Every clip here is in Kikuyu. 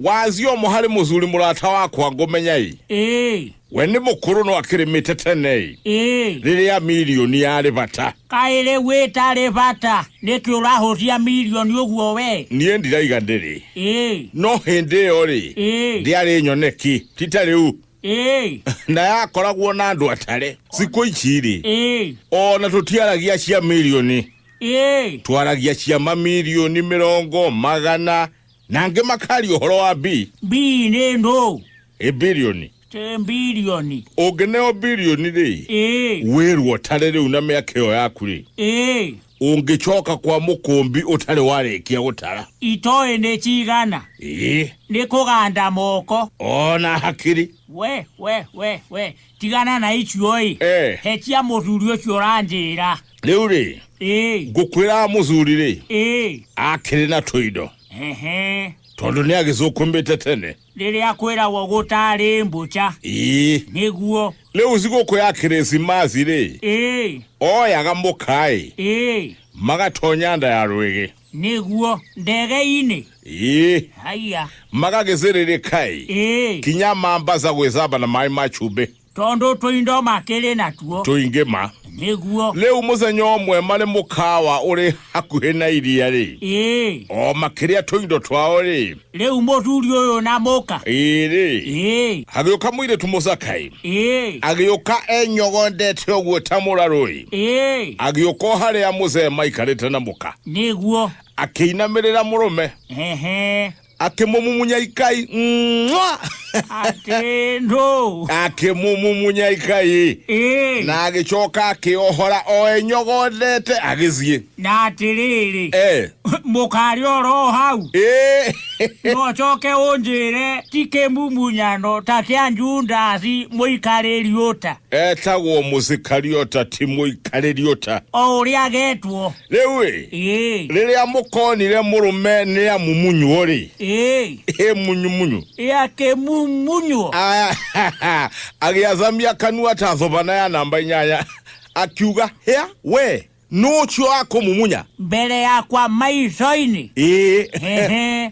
wazio mũharĩ mũthuri mũrata wakwa ngũmenyai ĩĩ we nĩ mũkũrũ no akĩrĩmĩte tenei ĩĩ rĩrĩa milioni yarĩ bata kaĩ rĩu ĩtarĩ bata nĩkĩ ũrahũtia milioni ũguo we niĩ ndiraiga ndĩrĩ ĩĩ no hĩndĩ ĩyo rĩ ĩĩ ndiarĩ nyoneki tita rĩu Ĩĩ, na yakoragwo na andũ atare thikũ ici rĩ ĩĩ, o na tũtiaragia cia milioni ĩĩ. twaragia cia mamilioni mĩrongo magana na angĩ makaria ũhoro wa bi Mbii nĩ ndũ. ĩ bilioni Tĩ mbirioni. ũngĩneo bilioni rĩ Ĩĩ, wĩrwo ũtare rĩu na mĩaka ĩyo yaku rĩ ĩĩ. ũngĩcoka kwa mũkũmbi ũtarĩ warĩkia gũtara itoĩ nĩ cigana ĩĩ nĩ kũganda moko ona hakiri we we we we tigana na icio ĩ Eh. hetia mũthuri ũcio ũranjĩra rĩu rĩ ĩ ngũkwĩra mũthuri rĩ ĩ akĩrĩ na tũindo ehe tondũ nĩ agĩcũkũmbĩte tene rĩrĩa kwĩragwo gũtarĩ mbũca ĩĩ nĩguo rĩu thigũkũ ya kĩrĩsimathi rĩ ĩĩ oyaga mũkaĩ ĩĩ magatonya nda ya rwĩgĩ nĩguo ndege-inĩ ĩĩ haiya magagĩcĩrĩrĩkaĩ ĩĩ kinya mambaca gwĩcamba na maĩ ma cumbĩ Tondũ tũindo makĩrĩ natuo. Tũingĩ ma. Nĩguo. Rĩu mũthenya ũmwe marĩ mũkawa ũrĩ hakuhĩ na iria-rĩ. Ĩĩ. O makĩrĩa tũindo twao-rĩ. Rĩu mũthuri ũyũ na mũka. Ĩĩ-rĩ. Ĩĩ. Hagĩũka mũirĩtu mũthaka-ĩ. Ĩĩ. Agĩũka enyogondete ũguo ta mũrarũ-ĩ. Ĩĩ. Agĩũka o harĩa mũthee maikarĩte na mũka. Nĩguo. Akĩinamĩrĩra mũrũme. Ehe. akĩmũmumunya ikai Mwah! atĩ ndũ akĩmũmumunya ikai ĩĩ na agĩcoka akĩohora o enyogothete agĩthiĩ na atĩrĩrĩ Eh, mũkarĩ oro hau ĩ no coke ũnjĩre ti kĩmumunyano ta kĩa jundasi mũikarĩri ũta etagwo mũsikariota ti mũikarĩriota o ũrĩa getwo rĩu-ĩ Ĩĩ. rĩrĩa mũkonire mũrũme nĩ amumunywo-rĩ Ĩĩ. ĩ munyu-munyu Ya kĩmumunywo. Aya, agĩathamia kanua ta thobana ya namba inyanya akiuga hĩa we nũcio akũmumunya Mbere yakwa maico-inĩ. ĩĩ Ehe.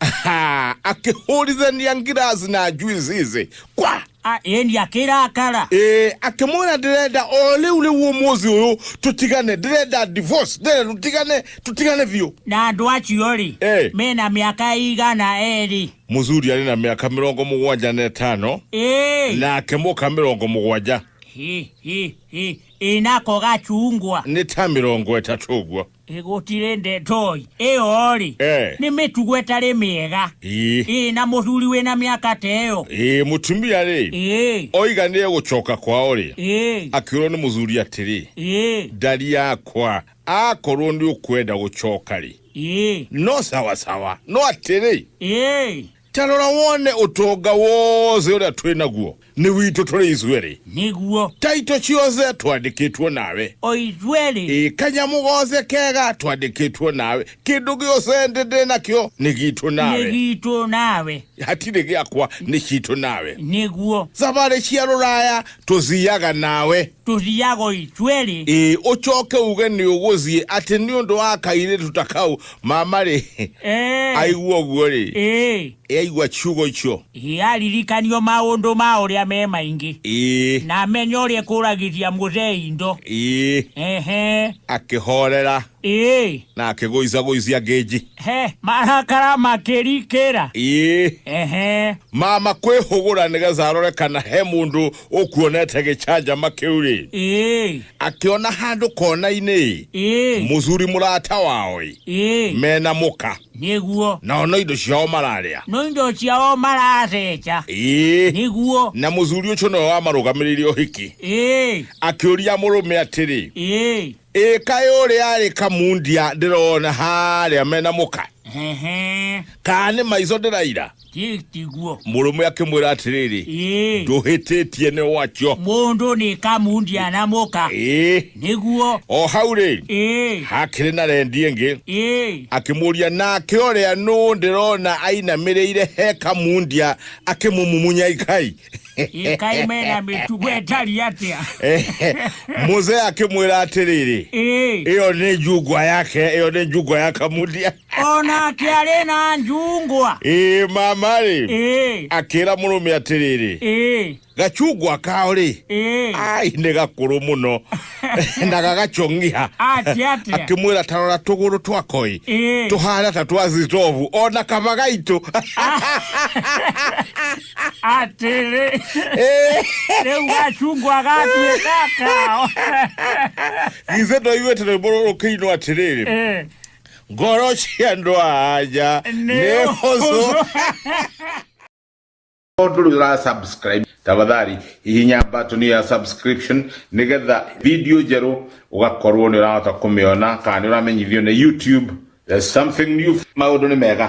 Ha, akĩhũrithania ngiraci na njuici ici kwa Ah, ĩni akĩrakara Eh, akĩmwĩra ndĩrenda o rĩu rĩu ũmũthĩ ũyũ tũtigane ndĩrenda divorce ndĩrenda tũtigane tũtigane biũ na andũ acio rĩ Eh. mena mĩaka igana erĩ mũthuri arĩ na mĩaka mĩrongo mũgwanja na ĩtano Ĩĩ. nake mũka mĩrongo mũgwanja Hi, hi, hi. ĩnako gacungwa nĩ ta mĩrongo ĩtatũ ũguo Ĩ, gũtirĩ ndetoĩ ĩyo-rĩ Eh. nĩ mĩtugo ĩtarĩ mĩega ĩĩ ĩĩ na mũthuri wĩ na mĩaka ta ĩyo ĩĩ mũtumia rĩ ĩĩ oiga nĩ egũcoka kwao rĩ ĩĩ akĩrwo nĩ mũthuri atĩrĩ ĩĩ ndari yakwa akorwo nĩ ũkwenda gũcoka rĩ ĩĩ no sawasawa no atĩrĩ ĩĩ Ta rora wone ũtonga wothe ũrĩa twĩ naguo nĩ witũ tũrĩ ithuerĩ. Nĩguo. Ta itũ ciothe twandĩkĩtwo nawe. O ithuerĩ. Ĩ kanyamũ gothe kega twandĩkĩtwo nawe. Kĩndũ gĩothe ndĩ ndĩ nakĩo nĩ gitũ nawe. Nĩ gitũ nawe. Hatirĩ gĩakwa nĩ citũ nawe. Nĩguo. Thabarĩ cia rũraya tũthiaga nawe. tũthiago ithuerĩ ĩĩ ũcoke uge nĩ ũgũthiĩ atĩ nĩ ũndũ wa kairĩtu ta kau mamarĩ Eh, aigua ũguo rĩ eh, aigua ciugo icio eh, aririkanio maũndũ ma ũrĩa me maingĩ ĩĩ na amenye ũrĩa kũragithia mũthee indo ĩĩ ehe akĩhorera ĩĩ na akĩgũicagũicia ngĩnji he marakara makĩrikĩra ĩĩ ehe mama kwĩhũgũra nĩgetha arore kana he mũndũ ũkuonete gĩcanjama kĩu-rĩ Ĩĩ, akĩona handũ kona-inĩ ĩĩ, mũthuri mũrata wao-ĩ ĩĩ, mena mũka nĩguo. nao no indo ciao mararĩa No indo ciao maratheca. ĩĩ Nĩguo. na mũthuri ũcio nĩwe wamarũgamĩrĩire ũhiki Ĩĩ, akĩũria mũrũme atĩrĩ ĩĩ. Ĩ kaĩ ũrĩa arĩ kamundia ndĩrona harĩa mena mũka Hehe. kana nĩ maico ndĩraira Ti- Tiguo. mũrũme akĩmwĩra atĩrĩrĩ Ĩĩ. ndũhĩtĩtie nĩ wacio Mũndũ nĩ kamundia na mũka. ĩĩ Nĩguo. o hau rĩ Ĩĩ. hakĩrĩ na rendi ĩngĩ Ĩĩ. akĩmũria nake ũrĩa nũ ndĩrona ainamĩrĩire he kamundia akĩmũmumunya ikai ikaimena mĩtugo ĩtari atĩa muze akĩmwĩra atĩrĩrĩ Ĩĩ. ĩyo nĩ njungwa yake ĩyo nĩ njungwa ya kamudia onake arĩ na njungwa ĩĩ mama rĩ Ĩĩ. akĩra mũrũme atĩrĩrĩ Ĩĩ. gacungwa kao rĩ Ĩĩ. ai nĩ gakũrũ mũno na gagacongiha Ati, ati. akimwira tarora tuguru twakoi Eh. tuhana ta twa zitovu ona kama gaitu atĩrĩ rĩu gacungwa gatuĩka kao githe ndoiguĩte rwĩmbo rũrũ kĩinwo atĩrĩrĩ Eh, ngoro cia andũ a anja nĩ nĩ hũthũ hũthũ. ndũrĩra subscribe tafadhali hihinya button ya subscription nĩgetha video njerũ ũgakorwo nĩ ũrahota kũmĩona kana nĩ ũramenyithio nĩ youtube there's something new maũndũ nĩ mega